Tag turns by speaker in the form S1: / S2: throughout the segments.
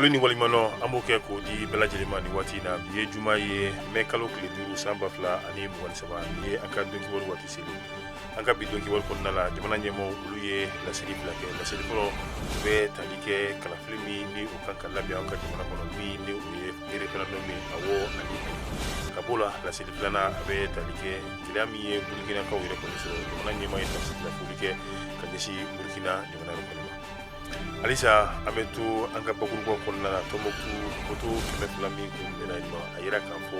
S1: foli ni waleɲumandɔn an b'o kɛ k'o di bɛɛ lajɛlen ma nin waati in na bi ye juma ye mɛ kalo tile duuru san ba fila ani mugan ni saba nin ye an ka don kibaru waati seli an ka bi don kibaru kɔnɔna la jamana ɲɛmaaw olu ye laseli fila kɛ laseli fɔlɔ o bɛ tali kɛ kalafili min ni o kan ka labɛn an ka jamana kɔnɔ min ni o ye referendum ye awɔ ani ayi ka b'o la laseli filanan a bɛ tali kɛ gɛlɛya min ye burkinakaw yɛrɛ kɔni sɔrɔ jamana ɲɛmaa ye tasibila foli kɛ ka ɲɛsin burkina jamana yɛrɛ kɔni ma halisa an bɛ to an ka bakurubaw kɔnɔna la tɔnbukutu moto kɛmɛ fila min kunbɛnna yen nɔ a yira k'a fɔ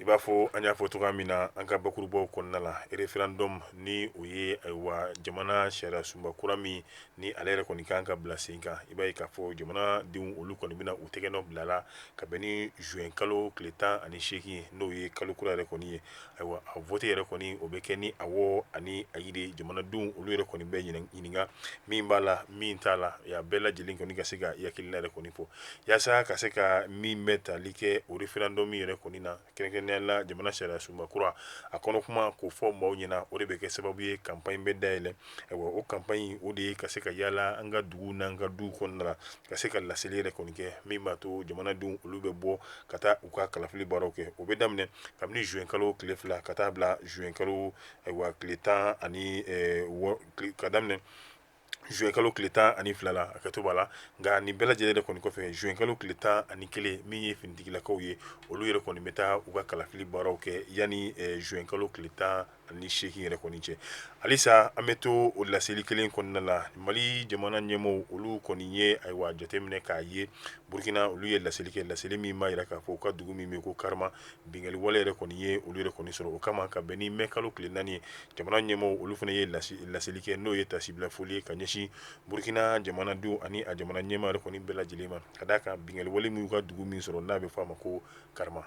S1: i b'a fɔ an y'a fɔ cogoya min na an ka bakurubaw kɔnɔna la referendum ni o ye ayiwa jamana sariya sunba kura min ni ale yɛrɛ kɔni kan ka bila sen kan i b'a ye k'a fɔ jamanadenw olu kɔni bɛna u tɛgɛ nɔ bila a la ka bɛn ni juin kalo tile tan ani seegin n'o ye kalo kura yɛrɛ kɔni ye ayiwa a vote yɛrɛ kɔni o bɛ kɛ ni awɔ ani ayi de ye jamanadenw olu yɛrɛ kɔni bɛ ɲininka min b'a la min t'a la a bɛɛ lajɛlen kɔni ka se ka i hakilina yɛrɛ kɔni fɔ yaasa ka se ka min bɛ tali kɛ o référendum yɛrɛ kɔni na kɛrɛnkɛrɛnnenya la jamana sariya sunba kura a kɔnɔ kuma k'o fɔ maaw ɲɛna o de bɛ kɛ sababu ye campagne bɛ dayɛlɛ ayiwa o campagne o de ye ka se ka yaala an ka duguw n'an ka duw kɔnɔna la ka se ka laseli yɛrɛ kɔni kɛ min b'a to jamanadenw olu bɛ bɔ ka taa u ka kalafili baaraw kɛ o bɛ daminɛ kabini juin kalo tile fila ka taa bila juin kalo ayiwa tile tan ani eh, wɔ- tile- ka daminɛ juin kalo tile tan ani fila la a kɛtɔ b'a la nka nin bɛɛ lajɛlen yɛrɛ kɔni kɔfɛ juin kalo tile tan ani kelen min ye finitigilakaw ye olu yɛrɛ kɔni bɛ taa u ka kalafili baaraw kɛ yanni eh, juin kalo tile tan ani seegin yɛrɛ kɔni cɛ halisa an bɛ to o laseli kelen kɔnɔna la mali jamana ɲɛmaaw olu kɔni ye ayiwa jate minɛ k'a ye burkina olu ye laseli kɛ laseli min b'a yira k'a fɔ u ka dugu min bɛ ko karama binkanli wale yɛrɛ kɔni ye olu yɛrɛ kɔni sɔrɔ o kama ka bɛn ni mɛ kalo tile naani ye jamana ɲɛmaaw olu fana ye laseli kɛ n'o ye tasibila foli ye ka ɲɛsin burukina jamanadenw ani a jamana ɲɛmaa yɛrɛ kɔni bɛɛ lajɛlen ma ka d'a kan binkanli wale min y'u ka dugu min sɔrɔ n'a bɛ fɔ a ma ko karama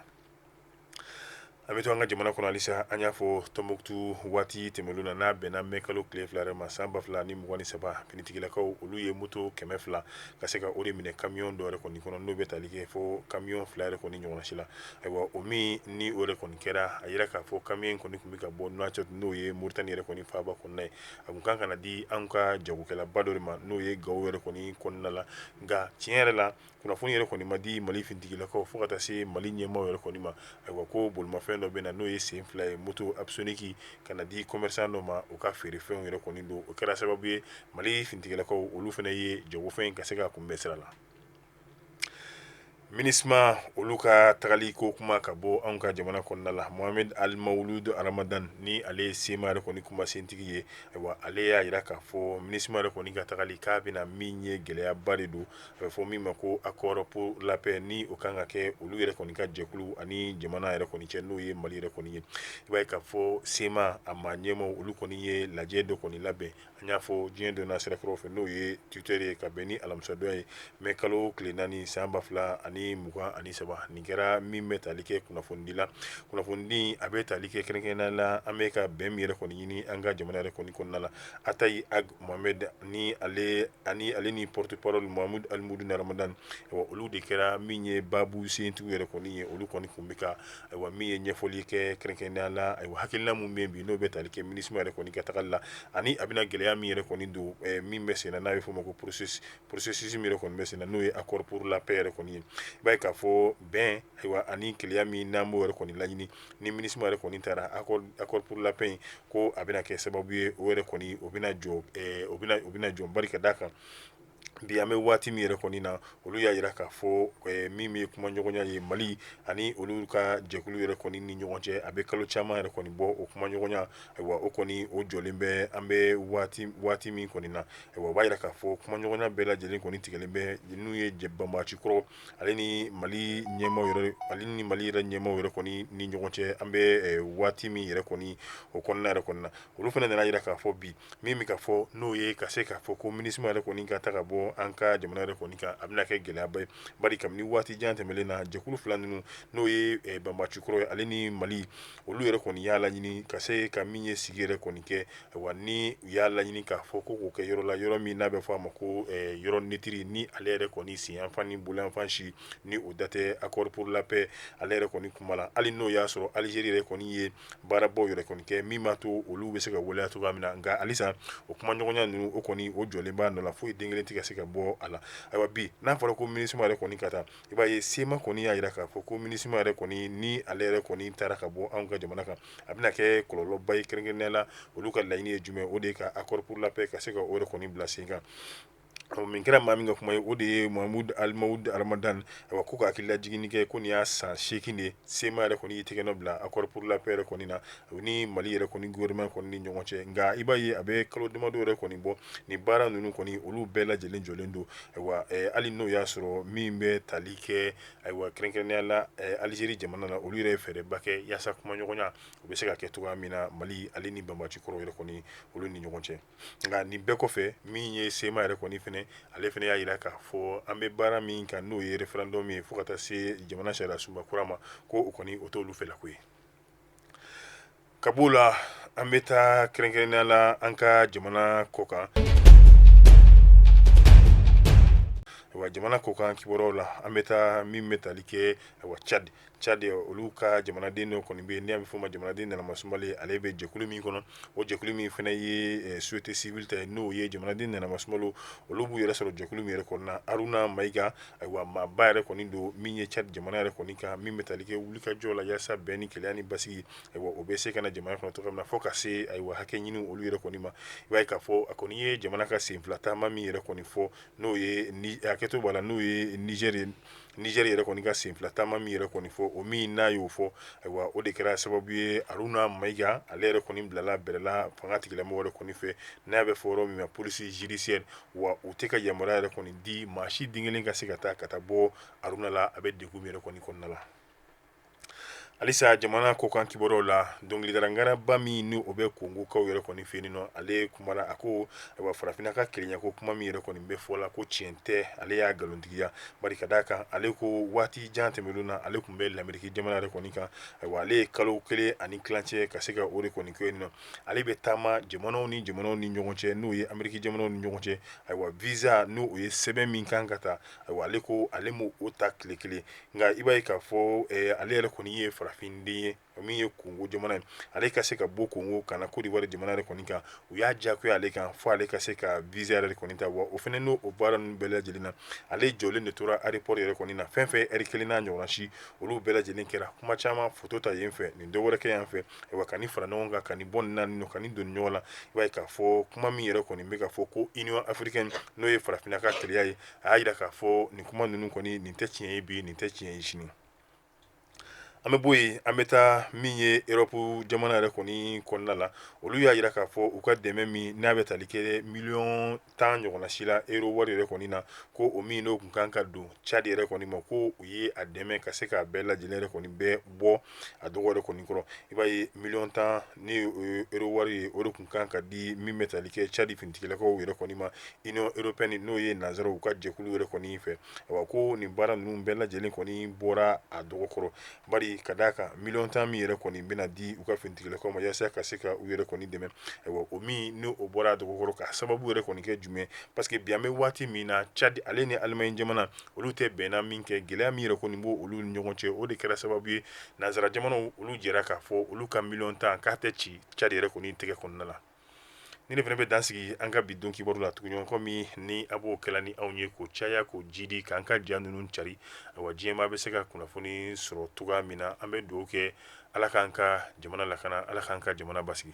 S1: an bɛ to an ka jamana kɔnɔ halisa an y'a fɔ tɔnbukutu waati tɛmɛnen na n'a bɛnna mɛ kalo tile fila yɛrɛ ma san ba fila ni mugan ni saba finitigilakaw olu ye moto kɛmɛ fila ka se ka o de minɛ kamiyɔn dɔw yɛrɛ kɔni kɔnɔ n'o bɛ tali kɛ fo kamiyɔn fila yɛrɛ kɔni ɲɔgɔnna si la ayiwa o min ni o yɛrɛ kɔni kɛra a yira k'a fɔ kamiyɔn kɔni tun bɛ ka bɔ nouakchott n'o ye moritani yɛrɛ kɔni faaba kɔnɔ ye a tun kan ka na di an ka jagokɛlaba dɔ ma n'o ye gawo yɛrɛ kɔni kɔnɔna la nka tiɲɛ yɛrɛ la kunnafoni yɛrɛ kɔni ma di mali finitigilakaw fo ka taa se mali ɲɛmaaw yɛrɛ kɔni ma ayiwa ko bolimafɛn dɔ bɛ na n'o ye sen fila ye moto asonki ka na di commerçant dɔ ma u ka feerefɛnw yɛrɛ kɔni don o kɛra sababu ye mali finitigilakaw olu fana ye jagofɛn in ka se ka kunbɛn sira la minisma olu ka tagali ko kuma ka bɔ anw ka jamana kɔnɔna la mohamed almawuludu aramadan ni ale ye sema yɛrɛ kɔni kuma sentigi ye ayiwa ale y'a yira k'a fɔ minisma yɛrɛ kɔni ka tagali k'a bɛna min ye gɛlɛyaba de don A bɛ fɔ min ma ko accord pour la paix ni o kan ka kɛ olu yɛrɛ kɔni ka jɛkulu ani jamana yɛrɛ kɔni cɛ n'o ye mali yɛrɛ kɔni ye i b'a ye k'a fɔ sema a ma ɲɛmaaw olu kɔni ye lajɛ dɔ kɔni labɛn an y'a fɔ diɲɛ don na sira fɛ n'o ye Twitter ye ka bɛn ni alamisadon ye mɛ kalo tile naani san ba fila ani mugan ani saba nin kɛra min bɛ tali kɛ kunnafonidi la kunnafoni a bɛ tali kɛ kɛrɛnkɛrɛnnenya la an bɛ ka bɛn min yɛrɛ kɔni ɲini an ka jamana yɛrɛ kɔni kɔnɔna la Attaye Ag Mohamed ni ale ani ale ni porte parole Mohamed Al Mawlud Ramadan bon olu de kɛra min ye baabu sentigiw yɛrɛ kɔni ye olu kɔni kun bɛ ka ayiwa min ye ɲɛfɔli kɛ kɛrɛnkɛrɛnnenya la ayiwa hakilina min bɛ yen bi n'o bɛ tali kɛ MINUSMA yɛrɛ kɔni ka tagali la ani a bɛna gɛlɛya min yɛrɛ kɔni don ɛɛ min bɛ senna n'a bɛ f'o ma ko processus min yɛrɛ kɔni bɛ senna n'o ye accord pour la paix yɛrɛ kɔni ye i b'a ye k'a fɔ bɛn ayiwa ani kelenya min n'an b'o yɛrɛ kɔni laɲini ni minisima yɛrɛ kɔni taara accord pour la paix ko a bɛna kɛ sababu ye o yɛrɛ kɔni o bɛna jɔ o bɛna jɔ bari ka d'a kan bi an bɛ waati min yɛrɛ kɔni na olu y'a yira k'a fɔ min ye kuma ɲɔgɔnya ye mali ani olu ka jɛkulu yɛrɛ kɔni ni ɲɔgɔn cɛ a bɛ kalo caman yɛrɛ kɔni bɔ o kuma ɲɔgɔnya ayiwa o kɔni o jɔlen bɛ an bɛ waati min kɔni na ayiwa o b'a yira k'a fɔ kuma ɲɔgɔnya bɛɛ lajɛlen kɔni tigɛlen bɛ n'u ye banbaganci kɔrɔ ale ni mali ɲɛ ale ni mali yɛrɛ ɲɛmaaw yɛrɛ kɔni ni ɲɔgɔn cɛ an bɛ waati min yɛrɛ kɔni o kɔnɔna yɛrɛ kɔni na olu fana nan'a yira k'a fɔ bi min bɛ ka fɔ n'o ye ka se k'a fɔ ko minisma yɛrɛ kɔni ka taa ka bɔ an ka jamana yɛrɛ kɔni kan a bɛna kɛ gɛlɛyaba ye bari kabini waati jan tɛmɛlen na jɛkulu fila ninnu n'o ye banbaanci kɔrɔ ye ale ni mali olu yɛrɛ kɔni y'a laɲini ka se ka min ye sigi yɛrɛ kɔni kɛ wa ni u y'a laɲini k'a fɔ ko k'o kɛ yɔrɔ la yɔrɔ min n'a bɛ fɔ a ma ko yɔrɔ neutre ni ale yɛrɛ kɔni sen yanfan ni bolo yanfan si ni o da tɛ accord pour la paix ale yɛrɛ kɔni kuma la hali n'o y'a sɔrɔ alizeri yɛrɛ kɔni ye baarabaw yɛrɛ kɔni kɛ min b'a to olu bɛ se ka waleya cogoya min na nka halisa o kuma ɲɔgɔnya ninnu o kɔni o jɔlen b'a nɔ la foyi den kelen tɛ ka se ka bɔ a la ayiwa bi n'a fɔra ko minisima yɛrɛ kɔni ka taa i b'a ye sema kɔni y'a yira k'a fɔ ko minisima yɛrɛ kɔni ni ale yɛrɛ kɔni taara ka bɔ anw ka jamana kan a bɛna kɛ kɔlɔlɔba ye kɛrɛnkɛrɛnnenya la olu ka laɲini ye jumɛn o de ye ka accord pour la paix ka se ka o yɛrɛ kɔni bila sen kan ɔ min kɛra maa min ka kuma ye o de ye Mahamud Almawud Ramadan awa ko ka hakililajiginni kɛ ko nin y'a san seegin de ye sema yɛrɛ kɔni y'i tɛgɛ nɔ bila accord pour la paix yɛrɛ kɔni na u ni Mali yɛrɛ kɔni gouvernement kɔni ni ɲɔgɔn cɛ nka i b'a ye a bɛ kalo damadɔ yɛrɛ kɔni bɔ nin baara ninnu kɔni olu bɛɛ lajɛlen jɔlen don ayiwa hali n'o y'a sɔrɔ min bɛ tali kɛ ayiwa kɛrɛnkɛrɛnnenya la alizeri jamana na olu yɛrɛ fɛɛrɛba kɛ yaasa kumaɲɔgɔnya o bɛ se ka kɛ cogoya min na mali ale ni banbaanci kɔrɔ yɛrɛ kɔni olu ni ɲɔgɔn cɛ nka nin bɛɛ kɔfɛ min ye sema yɛrɛ kɔni fɛnɛ ale fɛnɛ y'a jira k'a fɔ an bɛ baara min kan n'o ye référendum ye fo ka taa se jamana sariya sunba kura ma ko o kɔni o t'olu fɛla ko ye ka b'o la an bɛ taa kɛrɛnkɛrɛnnenya la an ka jamana kɔ kan wa jamana kɔ kan kibaruyaw la an bɛ taa min bɛ tali kɛ wa ca cadi olu ka jamanaden dɔ kɔni bɛ yen n'i y'a fɔ o ma jamanaden nanamasumalen ale bɛ jɛkulu min kɔnɔ o jɛkulu min fana ye société civile ta n'o ye jamanaden nanamasumalen olu b'u yɛrɛ sɔrɔ jɛkulu min yɛrɛ kɔnɔna haruna mayiga ayiwa maaba yɛrɛ kɔni don min ye cadi jamana yɛrɛ kɔni kan min bɛ tali kɛ wulikajɔ la yaasa bɛn ni kelenya ni basigi ayiwa o bɛ se ka na jamana kɔnɔ cogoya min na fo ka se ayiwa hakɛ ɲini olu yɛrɛ kɔni ma i b'a ye k'a fɔ a kɔni ye jamana ka sen fila taama min yɛrɛ kɔni fɔ n'o ye ni hakɛto b'a la n'o ye nizɛri ye nizɛri yɛrɛ kɔni ka sen fila taama min yɛrɛ kɔni fɔ o min n'a y'o fɔ ayiwa o de kɛra sababu ye aruna mayiga ale yɛrɛ kɔni bilala bɛrɛla fanga tigilamɔgɔ yɛrɛ kɔni fɛ n'a bɛ fɔ yɔrɔ min ma police judiciaire wa u tɛ ka yamaruya yɛrɛ kɔni di maa si den kelen ka se ka taa ka taa bɔ aruna la a bɛ degun min yɛrɛ kɔni kɔnɔna la halisa jamana kɔ kan kibaruyaw la dɔnkilidala ŋaraba min ni o bɛ kongokaw yɛrɛ kɔni fɛ yen nɔ ale kumana a ko ayiwa farafinna ka kelenya ko kuma min yɛrɛ kɔni bɛ fɔ la ko tiɲɛ tɛ ale y'a nkalontigiya bari ka d'a kan ale ko waati jan tɛmɛnenw na ale tun bɛ lamɛriki jamana yɛrɛ kɔni kan ayiwa ale ye kalo kelen ani tilancɛ ka se ka o de kɔni kɛ yen nɔ ale bɛ taama jamanaw ni jamanaw ni ɲɔgɔn cɛ n'o ye ameriki jamanaw ni ɲɔgɔn cɛ ayiwa visa n'o o ye sɛbɛn min kan ka ta ayiwa ale ko ale m'o o ta tile kelen nka i b'a ye k'a fɔ eh, ale yɛrɛ kɔni ye farafinden ye min ye kongo jamana ye ale ka se ka bɔ kongo ka na kodiwari jamana yɛrɛ kɔni kan u y'a diyagoya ale kan fo ale ka se ka visa yɛrɛ kɔni ta wa o fana n'o o baara ninnu bɛɛ lajɛlen na ale jɔlen de tora aéroport yɛrɛ kɔni na fɛn fɛn ɛri kelen n'a ɲɔgɔnna si olu bɛɛ lajɛlen kɛra kuma caman foto ta yen fɛ nin dɔ wɛrɛ kɛ yan fɛ ayiwa ka nin fara ɲɔgɔn kan ka nin bɔ nin na nin nɔ ka nin don ɲɔgɔn la i b'a ye k'a fɔ kuma min yɛrɛ kɔni bɛ ka fɔ ko union africaine n'o ye farafinna ka kelenya ye a y'a jira k'a fɔ nin kuma ninnu kɔni nin tɛ tiɲɛ ye bi nin tɛ tiɲɛ ye sini an bɛ bɔ yen an bɛ taa min ye erɔpu jamana yɛrɛ kɔni kɔnɔna la olu y'a jira k'a fɔ u ka dɛmɛ min n'a bɛ tali kɛ miliyɔn tan ɲɔgɔnna si la ero wari yɛrɛ kɔni na ko o min n'o kun kan ka don cadi yɛrɛ kɔni ma ko u ye a dɛmɛ ka se k'a bɛɛ lajɛ lajɛlen yɛrɛ kɔni bɛɛ bɔ a dɔgɔ yɛrɛ kɔni kɔrɔ i b'a ye miliyɔn tan ni euro wari ye o de tun kan ka di min bɛ taali kɛ cadi finitigilakaw yɛrɛ kɔni ma union européenne n'o ye nanzaraw u ka jɛkulu yɛrɛ kɔni fɛ a ko nin baara ninnu bɛɛ lajɛlen kɔni bɔra a dɔgɔ kɔrɔ bari ka d'a kan miliyɔn tan min yɛrɛ kɔni bɛna di u ka finitigilakaw ma yaasa ka se ka u yɛrɛ kɔni dɛmɛ o min n'o bɔra a dɔgɔ kɔrɔ k'a sababu yɛrɛ kɔni kɛ jumɛn parce que bi an bɛ waati min na cadi ale ni alimaɲi jamana olu tɛ bɛnna minkɛ gɛlɛya min yɛrɛ kɔni b'olu ɲɔgɔn cɛ o de kɛra sababu ye nanzara jamanaw olu jɛra k'a fɔ olu ka miliyɔn tan k'a tɛ ci cadi yɛrɛ kɔni tɛgɛ kɔnɔna la nin de fana bɛ dan sigi an ka bi don kibaru la tuguɲɔgɔn komi ni a b'o kɛla ni anw ye k'o caya k'o jidi k'an ka ja ninnu cari awa diɲɛmaa bɛ se ka kunnafoni sɔrɔ cogoya min na an bɛ dugawu kɛ ala k'an ka jamana lakana ala k'an ka jamana basigi